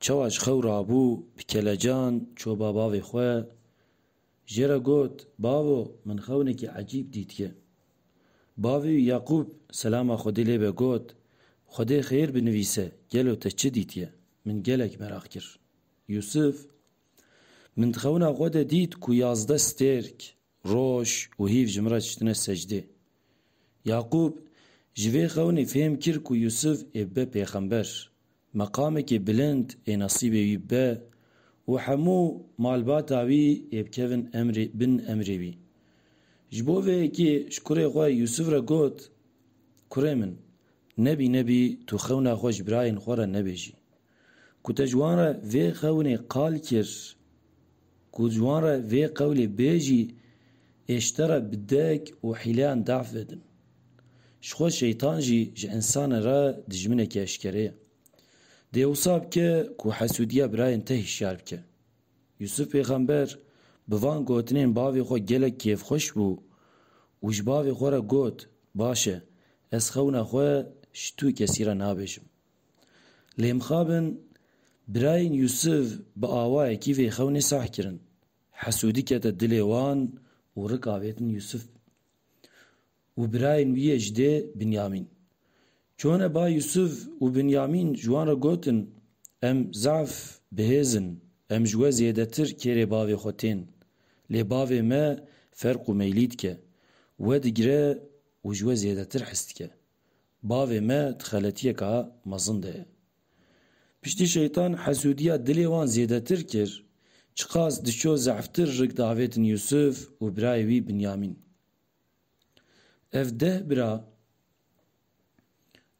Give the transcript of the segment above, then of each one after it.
Çawa ji xew rabû bi kelecan çoba bavê xwe jê re got, Bavo min xewnekî ecîb dîtge. Bavê wî Yaqûb selama Xwedê lê be got, Xwedê xêr binivîse gelo te çi dîtye, min gelek meraq kir. Yûsif, Min di xewna xwe de dît ku yazdeh stêrk Roj û hîv ji min re çitine secdê. Yaqûb ji vê xewnê fêhm kir ku Yûsuf ê bibe pêxember, meqamekê bilind ê nesîbê wî bibe û hemû malbata wî ê bikevin emrê bin emrê wî. Ji bo vê yekê ji kurê xwe Yûsuf re got, Kurê min, nebî nebî tu xewna xwe ji birayên xwe re nebêjî. Ku te ji wan re vê xewinê qal kir, ku ji wan re vê qewlê bêjî, Ê ji te re bi dek û hîleyan daf vedin. Ji xwe şeytan jî ji însanê re dijminekî eşkere ye. Dê wisa bike ku hesûdiya birayên te hişyar bike. Yûsûf pêxember bi van gotinên bavê xwe gelek kêfxweş bû û ji bavê xwe re got, Baş e, ez xewina xwe ji tu kesî re nabêjim. Lê mixabin birayên Yûsif bi awayekî vê xewnê sah kirin. Hesûdî kete dilê wan û rik avêtin Yûsif û birayên wî yê ji dê Binyamîn. Çûne ba Yûsif û Binyamîn ji wan re gotin, Em zaf bi hêz in, em ji we zêdetir kêrê bavê xwe tên. Lê bavê me ferq û meylî dike, we digire û ji we zêdetir hes dike. Bavê me di xeletiyeka mezin de ye. Piştî Şeytan hesûdiya dilê wan zêdetir kir, çiqas diçû zehftir rik diavêtin Yûsûf û birayê wî Binyamîn. Ev deh bira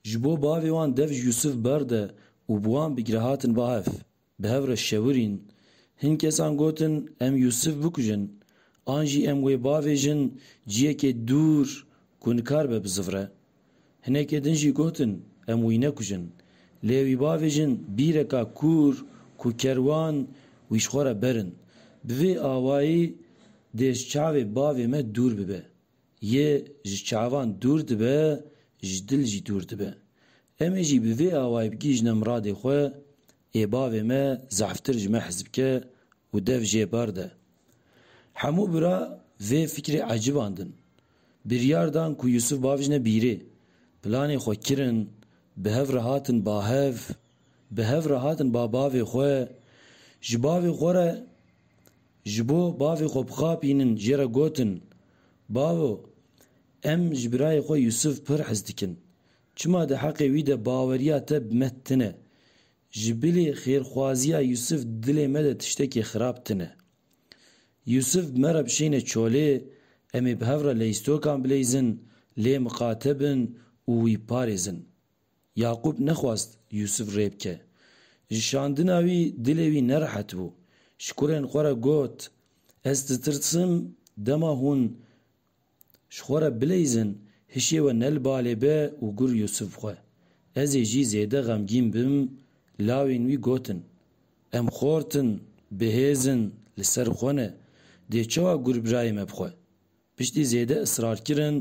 ji bo bavê wan dev ji Yûsûf berde û bi wan bigire hatin bahev. Bi hev re şewirîn. Hin kesan gotin em Yûsif bikujin an jî em wê bavêjin ciyekê dûr ku nikar be bizivre. Hinekê din jî gotin em wî nekujin lê wî bavêjin bîreka kûr ku kerwan wî ji xwe re berin. Bi vê awayî dê ji çavê bavê me dûr bibe. Yê ji çavan dûr dibe, ji dil jî dûr dibe. Em ê jî bi vê awayî bigihîjine miradê xwe, Ê bavê me zehftir ji me hez bike û dev jê bar de. Hemû bira vê fikrê ecibandin. Biryar dan ku Yûsûf bavijne bîrê. Planê xwe kirin, bi hev re hatin bahev. Bi hev re hatin ba bavê xwe. Ji bavê xwe re Ji bo bavê xwe bixapînin jê re gotin, Bavo, em ji birayê xwe Yûsûf pir hez dikin. Çima di heqê wî de baweriya te bi me tune. Ji bilî xêrxwaziya Yûsûf dilê me de tiştekê xirab tune. Yûsûf bi me re bişêne çolê, em ê bi hev re leystokan bileyzin, lê miqate bin û wî parêzin. Yaqûb nexwast Yûsûf rê bike. Ji şandina wî dilê wî nerehet bû. Ji kurên xwe re got, Ez ditirsim dema hûn ji xwe re bileyzin hişê we ne li balê be û gur Yûsûf xwe. Ez ê jî zêde xemgîn bim Lawên wî gotin, Em xort in, bihêz in, li ser xwe ne. Dê çawa gur birayê me bixwe? Piştî zêde israrkirin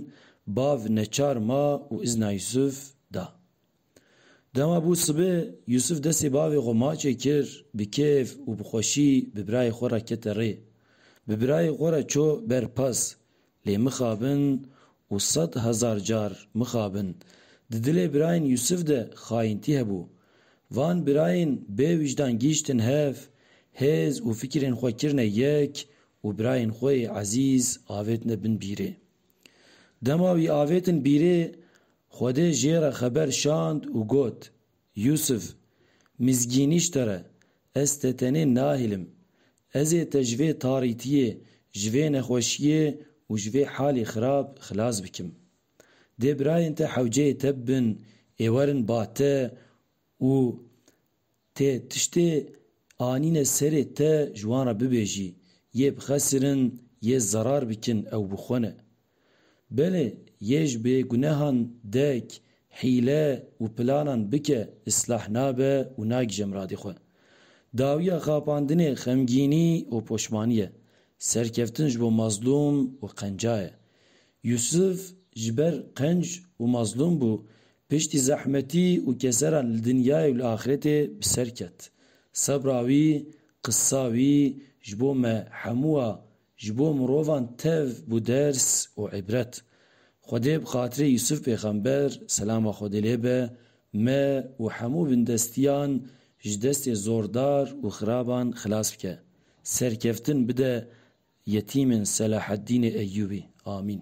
bav neçar ma û izna Yusuf da. Dema bû sibi, Yusuf destê bavê xwe maçê kir, bi kêf û bi xweşî bi birayê xwe re kete rê. Bi birayê xwe re çû ber pas, Lê mixabin û sed hezar car mixabin. Di dilê birayên Yusuf de xayintî hebû. Van birayên bêwîjdan gihîştin hev, hêz û fikirên xwe kirine yek Û birayên xwe yê ezîz avêtine bin bîrê. Dema wî avêtin bîrê, Xwedê jê re xeber şand û got, Yûsif, mizgînî ji te re, ez te tenê nahêlim. Ez ê te ji vê tarîtiyê, ji vê nexweşiyê û ji vê halê xirab xilas bikim. Dê birayên te hewceyê te bibin, ê werin ba te Û tê tiştê anîne serê te ji wan re bibêjî, yê bixesirin, yê zerar bikin ew bi xwe ne. Belê yê ji bêgunehan dek hîle û planan bike îslah nabe û nagije miradê xwe. Dawiya xapandinê xemgînî û poşmanî ye. Serkeftin ji bo mazlûm û qenca ye. Yûsif ji ber qenc û mazlûm bû Piştî zehmetî û keseran li dinyayê û li axretê bi ser ket. Sebra wî, qisa wî ji bo me hemû a ji bo mirovan tev bû ders û îbret. Xwedê bi xatirê Yûsuf pêxember, selama Xwedê lê be, me û hemû bindestiyan ji destê zordar û xiraban xilas bike. Serkeftin bide yetîmên Selaheddînê Eyyûbî. Amîn.